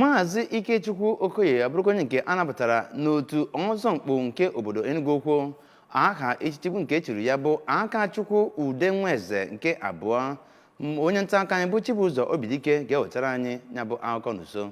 maazị ikechukwu okoye abụrụkwa onye nke a nabatara n'otu ọzọ mkpu nke obodo enugu ukwu aha echichi bụ nke e chiri ya bụ akachukwu udenweze nke abụọ onye nta aka anyị bụ chibụzọ obidike ga-ewetara anyị ya bụ akụkọ n'usoro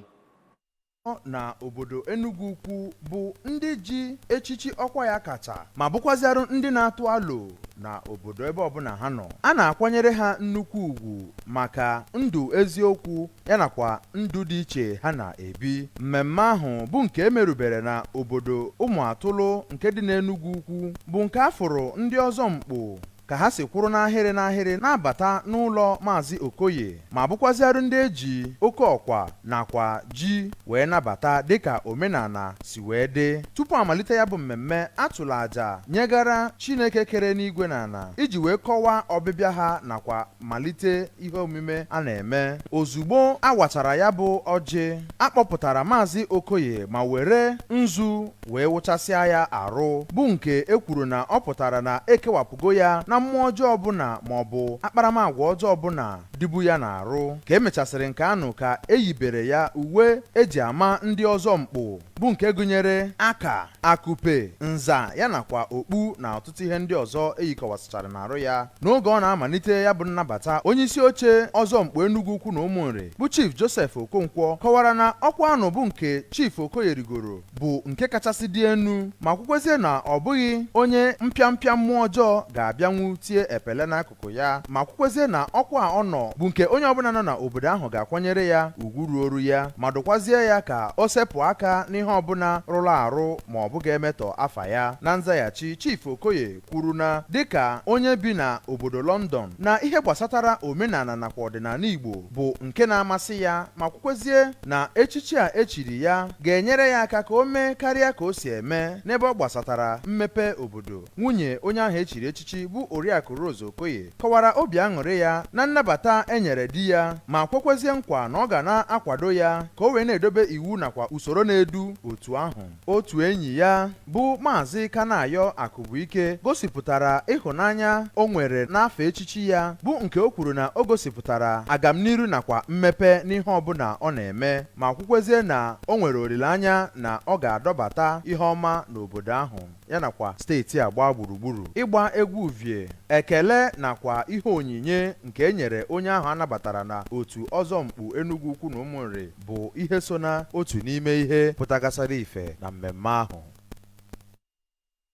na obodo Enugu Ukwu bụ ndị ji echichi ọkwa ya kacha ma bụkwazịarụ ndị na-atụ alo na obodo ebe ọbụla ha nọ a na-akwanyere ha nnukwu ugwu maka ndụ eziokwu ya nakwa ndụ dị iche ha na-ebi. Mmemme ahụ bụ nke e merubere na obodo Ụmụatụlụ nke dị n'Enugwu Ukwu bụ nke a fụrụ ndị ọzọ mkpu ka ha si kwụrụ n'ahịrị n'ahịrị na-abata n'ụlọ Maazị Okoye ma bụkwazịarụ ndị e ji oke ọkpa nakwa ji wee nabata dịka omenala si wee dị. Tupu amalite ya bụ mmemme, a tụrụ aja nyegara Chineke kere enigwe na ala iji wee kọwaa ọbịbịa ha nakwa malite ihe omume a na-eme ozugbo a wachara ya bụ ọjị a kpọpụtara maazị okoye ma were nzu wee wụchasịa ya arụ bụ nke e kwuru na ọ pụtara na ekewapụgo ya na mmụọ ọjọọ ọbụla ma ọ bụ akparamagwa ọjọọ ọbụla dịbu ya n'arụ ka emechasịrị nke anụ ka eyibere ya uwe eji ama ndị ọzọ mkpu bụ nke gụnyere aka akụpe nza ya nakwa okpu na ọtụtụ ihe ndị ọzọ eyikọwasịchara n'arụ ya n'oge ọ na-amalite ya bụ nnabata onye isi oche ọzọ mkpu Enugu ukwu na ụmụnri bụ chief Joseph Okonkwo kọwara na ọkwa anụ bụ nke chief Okoye rigoro bụ nke kachasị dị enu ma kwukwezie na ọ bụghị onye mpịampịa mmụọ ọjọọ ga-abịanwu tie epele n'akụkụ akụkụ ya ma kwukwezie na ọkwa a ọ nọ bụ nke onye ọbụla nọ na obodo ahụ ga-akwanyere ya ugwu ruoru ya ma dụkwazie ya ka o sepụ aka n'ihe ọbụla rụrụ arụ ma ọ bụ ga-emetọ afa ya na nzaghachi Chief Okoye kwuru na dịka onye bi na obodo London na ihe gbasatara omenala nakwa ọdịnala Igbo bụ nke na-amasị ya ma kwukwezie na echichi a echiri ya ga-enyere ya aka ka o mee karịa ka o si eme n'ebe ọ gbasatara mmepe obodo Nwunye onye ahụ e chiri echichi bụ Oriakụ Rose Okoye kọwara obi aṅụrị ya na nnabata e nyere di ya ma kwekwezie nkwa na ọ ga na-akwado ya ka o wee na-edobe iwu nakwa usoro na-edu otu ahụ. Otu enyi ya bụ Maazị Kanayo Akụbuike gosipụtara ịhụnanya o nwere n'afa echichi ya bụ nke o kwuru na o gosipụtara agamniru nakwa mmepe n'ihe ọbụla ọ na-eme ma kwukwezie na o nwere olileanya na ọ ga-adọbata ihe ọma n'obodo ahụ. ya nakwa steeti a gbaa gburugburu ịgba egwu uvie ekele nakwa ihe onyinye nke e nyere onye ahụ a nabatara na otu ọzọ mkpu Enugu Ukwu na Ụmụnri bụ ihe so na otu n'ime ihe pụtagasịrị ife na mmemme ahụ